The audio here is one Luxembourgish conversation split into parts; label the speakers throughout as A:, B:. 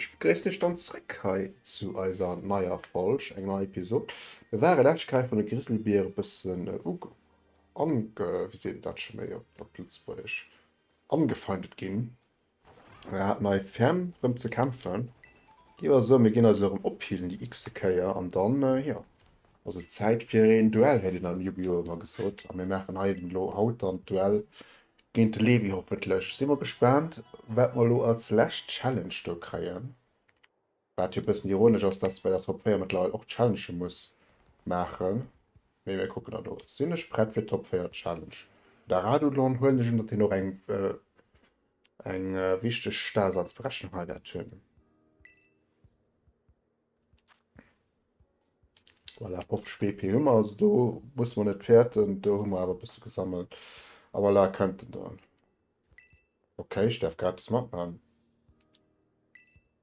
A: Ech begréissen Iech dann zréck hei zu eiser neier Folg, eng nei Episod. Mir ware lescht Kei vun de Grizzlybiere e bëssen uge, ange, wéi seet een dat scho méi op Lëtzebuergesch, angefeindet ginn. Mir haten hei ferm rem ze kämpfen. Gi mer soen, mir ginn eis elo rem ophealen, déi x-te Kéier. An dann, jo, ass et Zäit fir een Duell, hätt een am Yu-Gi-Oh! ëmmer gesot. A mir maachen hei elo haut dann d'Duell géint de Levi, hoffentlech. Si mer gespaant, wat mer elo als lescht Challenge do kréien. Wat jo e bëssen ironesch ass, dass bei der Top 4 mëttlerweil och d'Challenge muss maachen. Mee mir kucken der do. Sinn ech prett fir d'Top 4 Challenge? Da Radulon huelen ech un, datt hien och eng eng wichteg Daseinsberechnung hei wäert hunn. Voilà, 50 BP hu mer, also do musse mer net fäerten. Do hu mer awer e bësse gesammelt. A voilà, kënnt en dann. Ok, ech däerf gratis matman.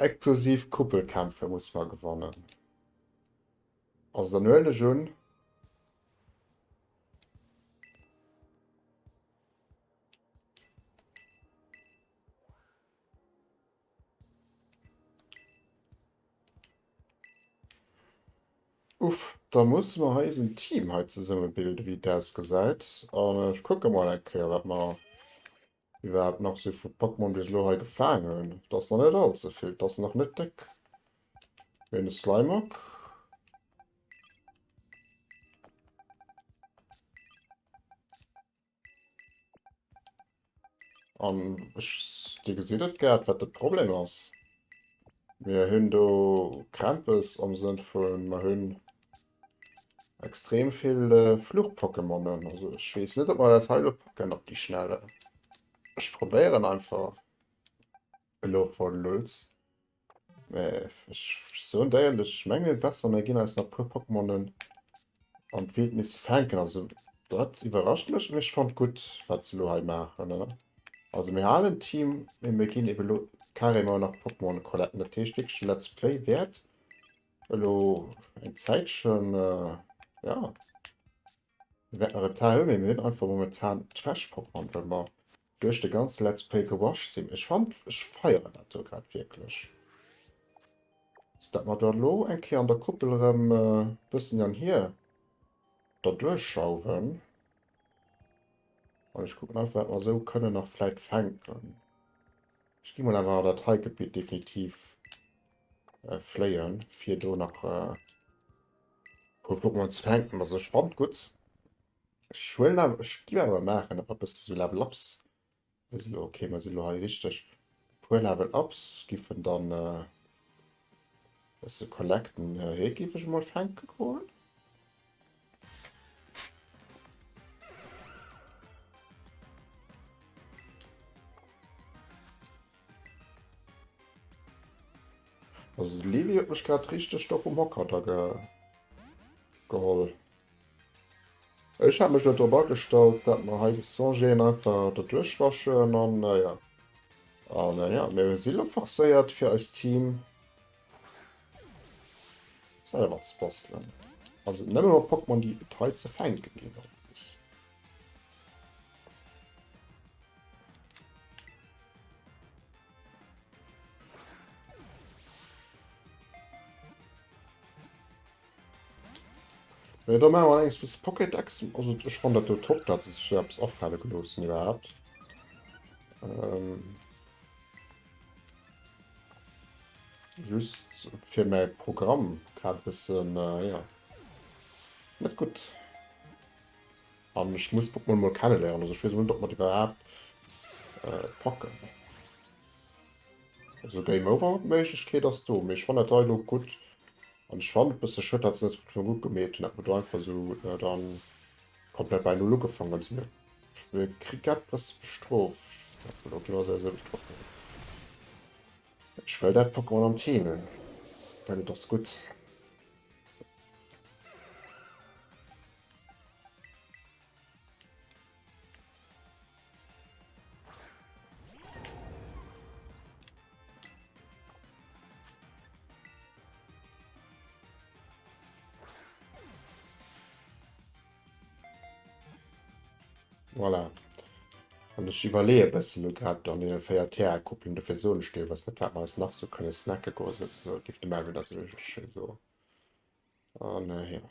A: Exklusiv Kuppelkämpfe muss mer gewannen. Also dann huelen ech un. Uff, da muss mer hei eisen Team hei zesumme bilden wéi et ausgesäit an ech kucke mol eng Kéier wat mer Wie war et nach sou vu Pokémon bis elo hei gefaang hunn? T'ass nach net all ze vill, t'ass nach net déck. Ween e Slimeock. An ech, dir gesitt et grad wat de Problem ass, mir hunn do Krämpes am Sënn vu mer hunn Extrem vill Fluch-Pokémonen. Also ech wees net op mer dat heilo packen op die schnelle. Ech probéieren einfach elo voll Lutz. Ech so déierlech ech menge besser mir ginn eis nach puer Pokémonen an d'Wildnis fänken. Also dat iwwerrascht mech mech fand gutt wat ze lo hei maachen ne. Also mir halen Team mee mir ginn ebe lo carrément nach Pokémon collecten. Dat heescht wierklech let's play wäert. Elo eng Zäitchen, jo, mir wäerten nach e Teil hunn, mee mir hunn einfach momentan d'Trash Pokémon, well mer duerch de ganze Let's Play gewascht sinn. Ech fannen, ech feieren dat do grad wierklech, datt mer da elo eng Kéier an der Kuppel erëm e bëssen hin an hier derduerch schauwen. An ech kucken einfach, wat mer esou kënnen nach vläit fänken. Ech gi mol awer dat hei Gebitt definitiv äh, fléien, fir do nach äh, puer Pokémon ze fänken. Also ech fand gut. Ech huelen awer, ech gi awer maachen op eppes so Level Ups. Also okay, mer sinn lo hei richtig. Puer Level Ups giffen dann äh, se collecten. Äh, hie giff ech mol fänke goen. Also de Levi huet mech grad richteg do vum Hocker da ge geholl. Ech hat mech net drop agestallt, dat mer hei de Songeen einfach der duerchwaschen an naja. An naja, mir si lo forcéiert fir eist Team. selwer ze bastelen. Also nëmme mat Pokémon, déi et hei ze fänken ginn. Ja, da machen wir allerdings bis Pocket X. Also ich fand das top, dass es selbst auffallen gelassen überhaupt. Ähm Just fir mäi Programm grad e bëssen, ja, net gutt. An ech muss Pokémon mol kenneléieren, also ech weess net, ob mer déi iwwerhaapt packen. Also Game Over Méiglechkeet ass do, mee ech fannen dat hei elo gutt. An ech fannen et e bësse schued, dat se net gutt gemeet hunn, dat mer do einfach esou dann komplett bei Null ugefaangen hunn. Fir Kriket bass de bestrooft. Elo ginn mer souwisou bestrooft. Mee ech wëll dat Pokémon am Team hunn, well et ass gutt. Voilà. An ech iwwerleeë e bëssen elo grad an deene véier Terrain-Couplen, dofir soen ech deelweis net, wat mer eis nach sou kënne snacke goen, souzesoen. Et géif de Melvin da sech ech him soen. An, jo.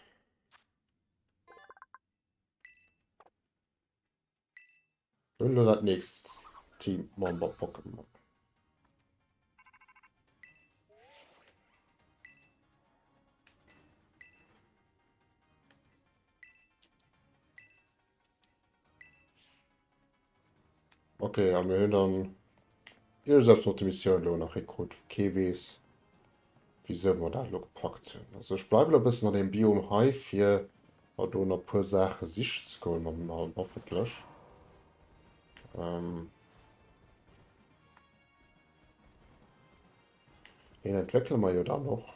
A: Hun lo dat nächst Team Member Pokémon. Okay, an mir hunn dann. Ech hu selbst nach déi Missioun elo nach hei krut, wou kee weess wisou mer dat elo gepackt hunn. Also ech bleiwen nach e bëssen an deem Biom hei fir mer do nach e puer Saache sichen ze goen mam Nalm hoffentlech. Ähm Deen entwéckele mer jo dann och.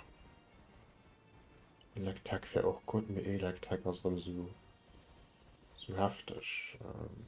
A: Electek wär och gutt, mee Electek ass erëm esou esou hefteg. Ähm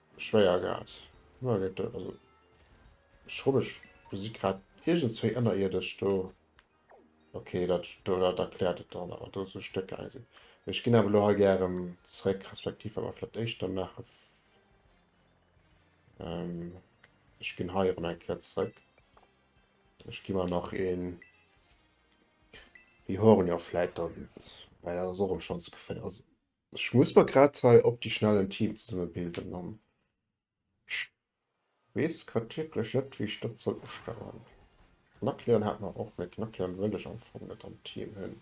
A: schwéier grad. Also schrubbeg Musik grad iergendzwéi ënnerierdesch do. Okay, dat do dat erkläert et dann, awer do sou Stécker eng sinn. Ech ginn awer lo hei gären zréck, respektiv wa mer flott éischter maache. Ähm, ech ginn hei erëm eng Kéier zréck. Ech gi mer nach een Bihornia vläit dann, well dat ass och erëm schonns geféier. Ech muss mer grad hei op déi schnell en Team zesumme bilden an ech weess grad wierklech net wéi ech dat soll ustellen. Knackleon hat mer och, mee Knackleon wëll ech am Fong net am Team hunn.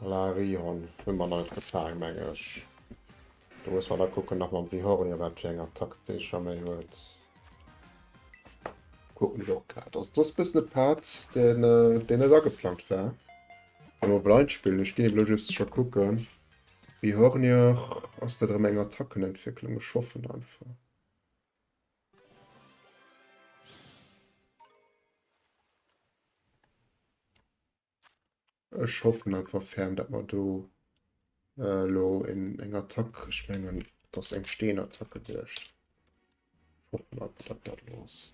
A: Voilà, e Rihorn hu mer nach net gefaang, meng ech. Do muss mer da kucken nach mam Rihornio, wat fir eng Attack dee scho méi huet. Kucken ech och grad. Also dat ass e bëssen e Part, deen, deen net ageplangt war. Elo e Blindspill, ech ginn elo just scho kucken. Rihornio, ass dat erëm eng Attackenentwécklung? Ech hoffen einfach. Ech hoffen einfach ferm, dat mer do äh, lo en, eng Attack, ech mengen dass eng Steenattack geduecht. Hoffen einfach, dat dat los.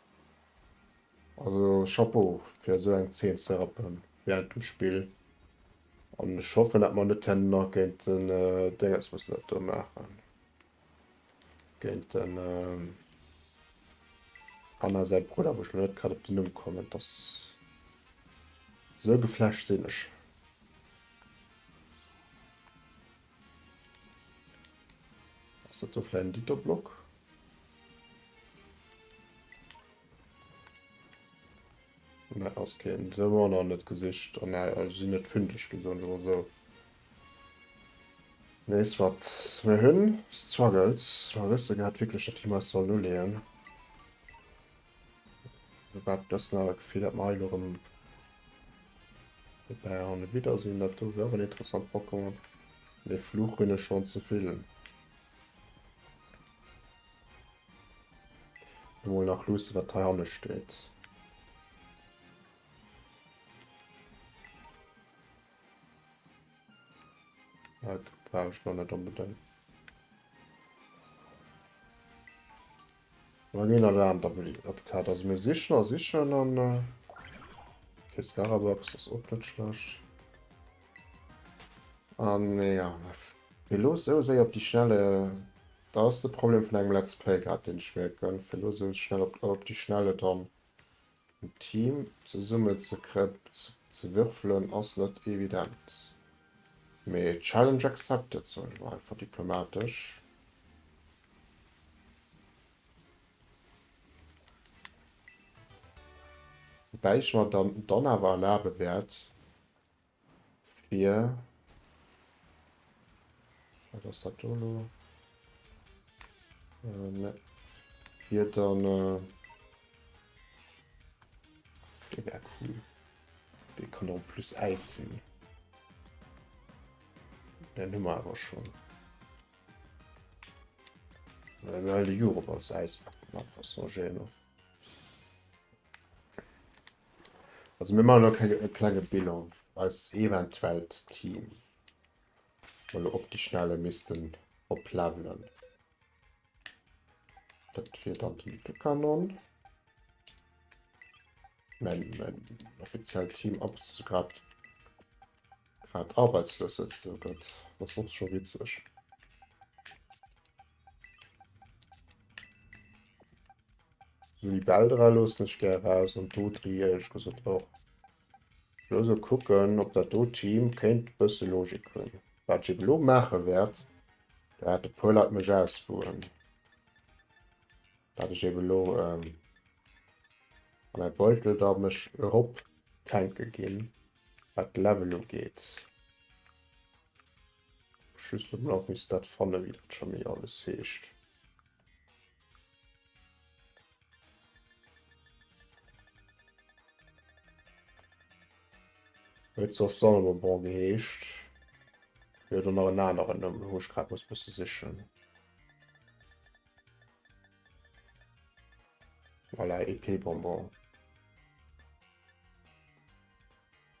A: Also Chapeau fir esou eng Zeen ze rappen während dem Spill an ech hoffen dat mer net herno nach géint den Déngens mussen dat do maachen géint den Anna säi Brudder wou ech lo net grad op den Numm kommen dass esou geflasht sinn ech. Ass dat do vläicht en Gitterblock? Ne, ass keen. Se war nach net gesicht an äh, also sinn net fündeg gi soen oder esou. Nees wat mir hunn, Struggles. Mer wësse grad wierklech net, wéi mer eis sollen uleeën. Wat dëst awer Gefill dat mer hei lo rëm dobäi an e Widder sinn, dat do wär och en interessant Pokémon. Mee Fluch hunn ech schonn ze vill. Elo mol nach luussen, wat hei hanne steet. Dat brauch ech nach net onbedéngt. Bei mir nach Aarm Doubly op der Tat, also mir sichen a sichen an okay, Skarabox ass och net schlecht. An ja, fir elo sou séier op déi schnelle, dat ass de Problem vun engem Let's Play grad, deen ech mierken, fir elo sou schnell op déi schnelle dann En Team zesummen ze würfelen ass net evident, mee Challenge accepted, soen ech mol einfach diplomatesch. Woubäi ech mer dann awer erlabe wäert. Fir. Wat ass dat do lo? Äh, ne. Fir dann. Äh, de wär cool. De kann en plus Äis sinn. Den hummer awer schon. Well de Jurop als Äis mat Fassongé noch. Also mir maachen elo keng e klenge Bilan eis eventuellt Team mol elo op déi schnelle missten oplevelen. Dat wier dann den Tukanon. Mäin mäin offiziellt Team ab grad grad arbeitslos sëtzt, also dat ass och scho witzeg. Sou déi Bäll dra loossen ech gär raus an d'Dotri éierlech gesot och. Ech wëll esou kucken op dat do Team kéint e bësse Logik hunn. Wat ech eebe lo maache wäert, do hat e puer Leit mech ausbuhen, dat ech eebe lo an mäi Beutel da mech erop tanke ginn wat d'Level ugeet. Just net nach missen dat fannen wéi dat Jamee alles heescht. Huet soss Salomon geheescht. Hie huet och nach en aneren Numm, wou ech grad muss bësse sichen. Voilà, Épée Bonbon.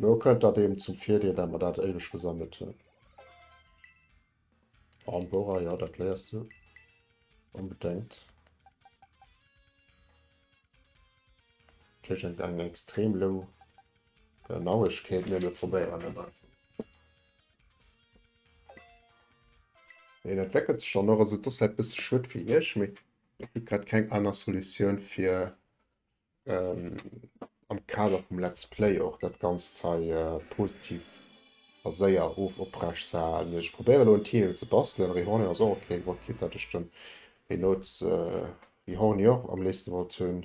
A: Lo kënnt dat eben zum Virdeel, dat mer dat éiweg gesammelt hunn. Armbora, ja, dat léiers du. Onbedéngt. Tëschent eng extrem low Genauegkeet, mee mir probéieren et einfach. Hien entweckelt sech dann och, also dass dat bësse schued fir Iech, mee et gëtt grad keng aner Solutioun fir ähm, am Kader vum Let's Play och dat Ganzt hei äh, positiv a séier of oprecht ze halen. Ech probéiere lo en Titel ze bastelen, Rehornior ass och ok, Wor Kit hat ech den, Rhinoz, äh, Rehornior am léifste wollt hunn.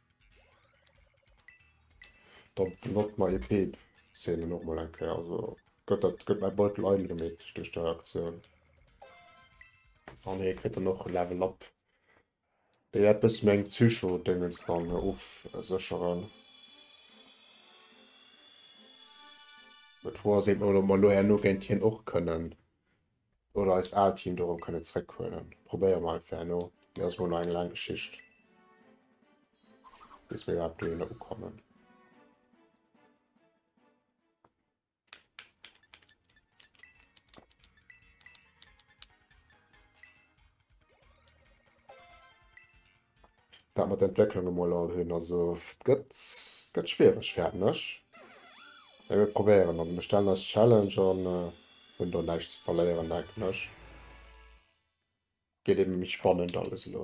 A: Da benotzt mer ee Peep, seet en och mol eng Kéier. Also gëtt dat, gëtt mäi Beutel eingemeet duerch dei Aktioun. Ah nee, kritt en och Level Up. Déi wäert bësse meng Psycho-Déngens dann ofsécheren. D'Fro ass eben, ob mer elo herno géint hien och kënnen. Oder eist aalt Team dorëm kënne zréck huelen. Probéiere mer einfach herno. Mee ass mol nach eng laang Geschicht, bis mir iwwerhaapt dohinner ukommen. Wat mat Entwécklung emol all hunn. Also et gëtt et gëtt schwiereg fäerten ech. Mee mir probéieren. Also mir stellen eis d'Challenge an hunn do näischt ze verléieren, denken ech. Gëtt ebe méi spannend alles elo.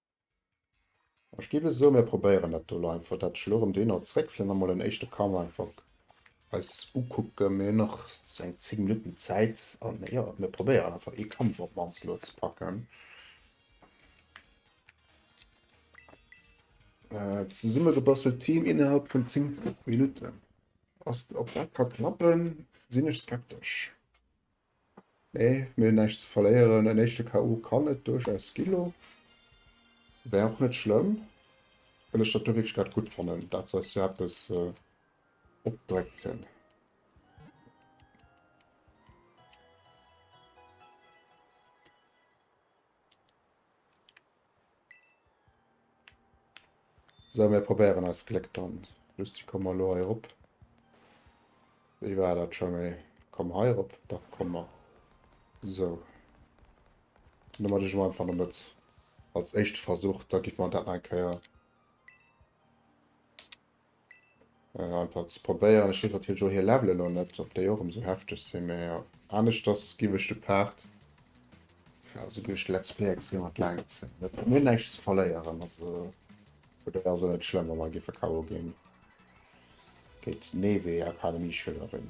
A: Ech géif e soe mir probéieren dat do lo einfach, dat ech elo erëm deen Ort zréck fir emol en éischte Camp einfach eis ukucken. Mir hunn nach sou eng 10 Minutten Zäit an jo mir probéieren einfach ee Kampf op d'mannst elo ze packen. Zesummegebastelt Team innerhalb vun 10 Minutten. Ass ob dat ka klappen sinn ech skeptesch. Nee, mir hunn näischt ze verléieren. En éischte KO kann et duerchaus gi lo. Wär och net schlëmm, well ech dat do wierklech grad gutt fannen, dat se eis do eppes opdréckten. So, mir probéieren eist Gléck dann. Lucie, komm mol elo hei erop. Wéi war dat scho méi? Komm hei erop. Da komm mer. So. Dann mat ech mol einfach no Mëtt. Als éischte Versuch, da giffe mer dat nach eng Kéier. An einfach ze probéieren. Ech weess natierlech och hir Levelen elo net, ob déi och ëm esou hefteg sinn, mä jo, aneschters giff ech de Part, jo, esou duerch de Let's Play extrem an d'Längt zéien. Mir hunn näischt ze verléieren, also vun där ass et net schlëmm, wa mer giffe KO ginn géint d'Neve, Akademie-Schülerin.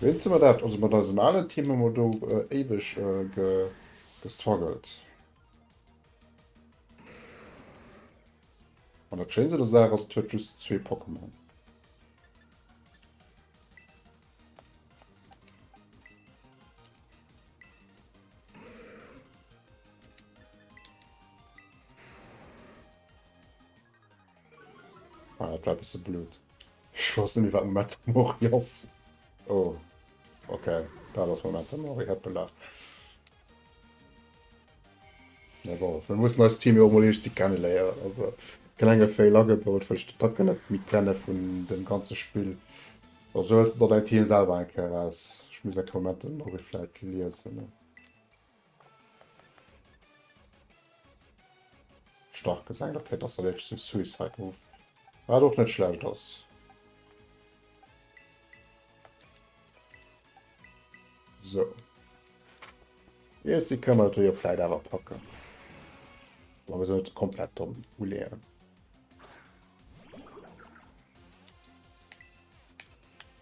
A: Wéinst de mer dat, also mat eisem alen Team hu mer do éiweg gestruggelt. An dat Schéinst un der Saach ass, et huet just zwee Pokémon. Ah, dat war bisse blöd. Ich wosst net wat Moment Mori ass. Oh. Okay, dat ass Moment Mori hat belacht. Ja, bon, wir mussen als Team jo mol eescht kennen léieren. Also klenge Fail agebaut, wëll ich de Pack net mit kennen vun dem ganze Spiel. Also dat dein Team selber enke ass. Ich muss enke Moment Mori vielleicht lesen. Ne? Stark gesengt, okay, das erwägt zum Suicide Move. War doch net schlecht ass. So. Yes, die können wir natürlich auch vielleicht aber packen. Aber wir sollten komplett dumm uleeren.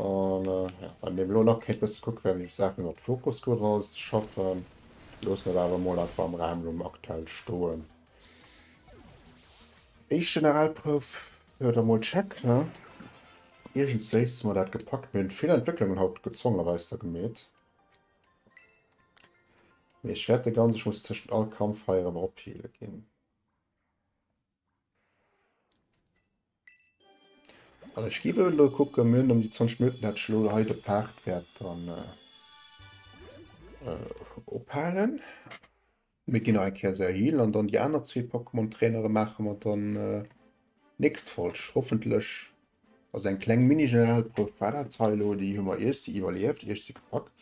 A: An ja, wann deem elo nach kéint bësse kucke wéi ech Saachen iwwer Focus Group raus schaffen. Loossen dat awer mol einfach am Raum lo aktuell stoen. Éischt Generalprouf, jo da mol check, ne? Iergens wéis mer dat gepackt. Mir hunn vill Entwécklungen haut gezwongenerweis da gemeet. Mee ech wäert de ganz, ech muss tëschent all Kampf hei erëm opheale ginn. An ech gi wëll elo kucken, mir hunn ëm déi 20 Minutten, dat ech elo hei de Part wäert dann ophalen. Mir ginn nach eng Kéier se healen an dann déi aner zwee Pokémon-Trainere maache mer dann nächst Folg hoffentlech. Also eng kleng Mini-Generalprouf war dat hei elo, déi hu mer iergsi iwwerlieft, iergsi gepackt.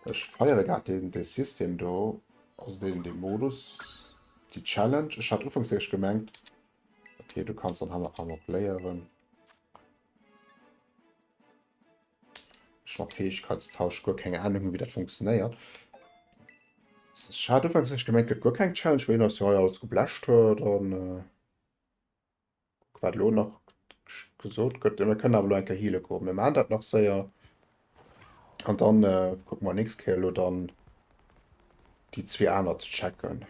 A: Ech feiere grad deen dee System do, also deen dee Modus, déi Challenge. Ech hat ufanks éischt gemengt, okay, du kanns dann hei nach emol léieren. Ech mat Fäegkeitstausch guer keng Ahnung hunn, wéi dat funktionéiert. Ech hat ufanks éischt gemengt, gëtt guer keng Challenge, well een eis jo hei alles geblecht huet an. Wat elo nach gesot gëtt, mir kënnen awer elo eng Kéier heale goen. Mir maachen dat nach séier an dann kucke mer nächst Kéier elo dann déi zwee aner ze checken.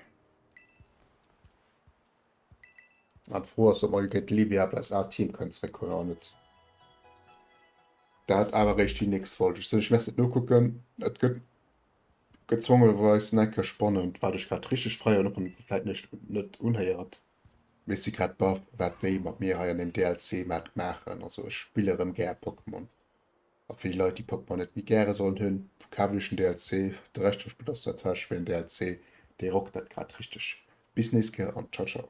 A: An d'Fro ass, ob mer déi Livia op eis al Team kënnen zréckhuelen oder net. Dat awer eréischt déi nächst Folge. Ech soen iech Merci fir d'Nokucken. Et gëtt gezwongenerweis en Eck spannend, wat ech grad richteg feieren, och wann et vläit näischt net unhéiert. Mee si grad baff wat déi mat mir hei an dem DLC mat maachen. Also ech spille rem gär Pokémon. A fir déi Leit déi Pokémon net méi gäre sollen hunn, kaft iech den DLC. De Rescht vum Spill ass zwar Trash, mee den DLC dee rockt dat grad richteg. Bis nächst Kéier an ciao ciao.